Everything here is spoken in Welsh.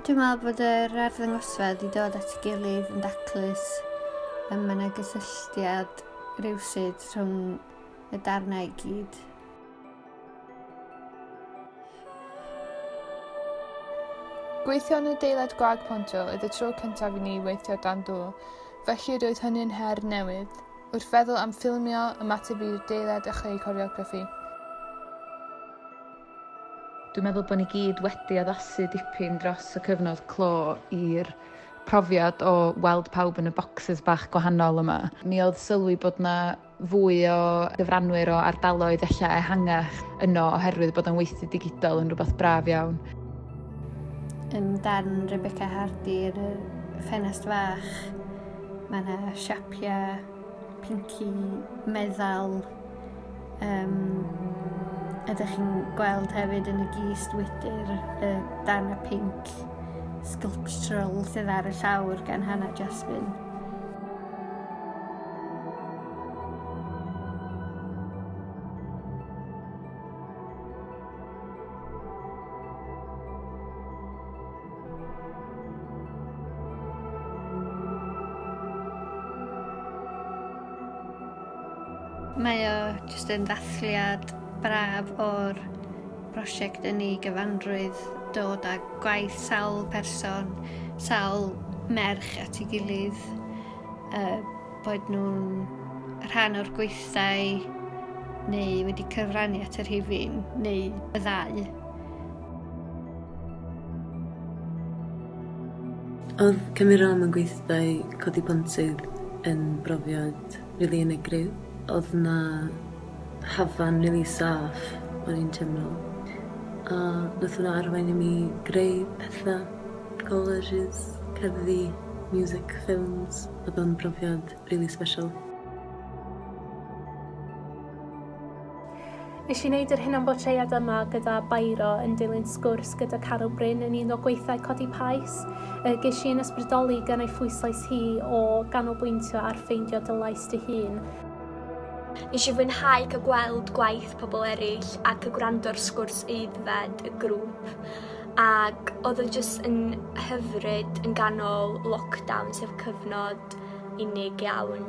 Dwi'n meddwl bod yr arddangosfedd i dod at ei gilydd yn daclus y mae yna gysylltiad rhywsyd rhwng y darnau i gyd. Gweithio yn y deilad gwag pontio oedd y tro cyntaf i ni weithio dan dŵr, felly roedd hynny'n her newydd. Wrth feddwl am ffilmio, ymateb i'r deilad a chreu coreograffi. Dwi'n meddwl bod ni gyd wedi addasu dipyn dros y cyfnod clo i'r profiad o weld pawb yn y bocsys bach gwahanol yma. Mi oedd sylwi bod 'na fwy o gyfranwyr o ardaloedd ella ehangach yno oherwydd bod o'n weithdy digidol yn rhywbeth braf iawn. Ym darn Rebecca Hardy yn y ffenest fach, mae yna siapiau pinci meddal um, ydych chi'n gweld hefyd yn y gist wydr y dan y pink sculptural sydd ar y llawr gan Hannah Jasmine. Mae o jyst yn ddathliad braf o'r prosiect yn ei gyfanrwydd, dod â gwaith sawl person, sawl merch at ei gilydd A bod nhw'n rhan o'r gweithdai neu wedi cyfrannu at y rhifin neu y ddau. Oedd cymryd rhan mewn gweithdai codi pontydd yn brofiad rili unigryw. Oedd 'na hafan rili saff o'n i'n teimlo a nath hwnna arwain i mi greu petha. Colleges, cerddi, music, ffilms, odd o'n brofiad rili sbeshal. Nesh i neud yr hunan bortread yma gyda Bairo yn dilyn sgwrs gyda Caro Bryn yn un o gweithau Codi Pais. Y gesh i'n ysbrydoli gan ei phwyslais hi o ganolbwyntio ar ffeindio dy lais dy hun. Nes i fwynhau cael gweld gwaith pobl eraill ac y gwrando'r sgwrs aeddfed y grŵp. Ac odd o jyst yn hyfryd yn ganol lockdown sef cyfnod unig iawn.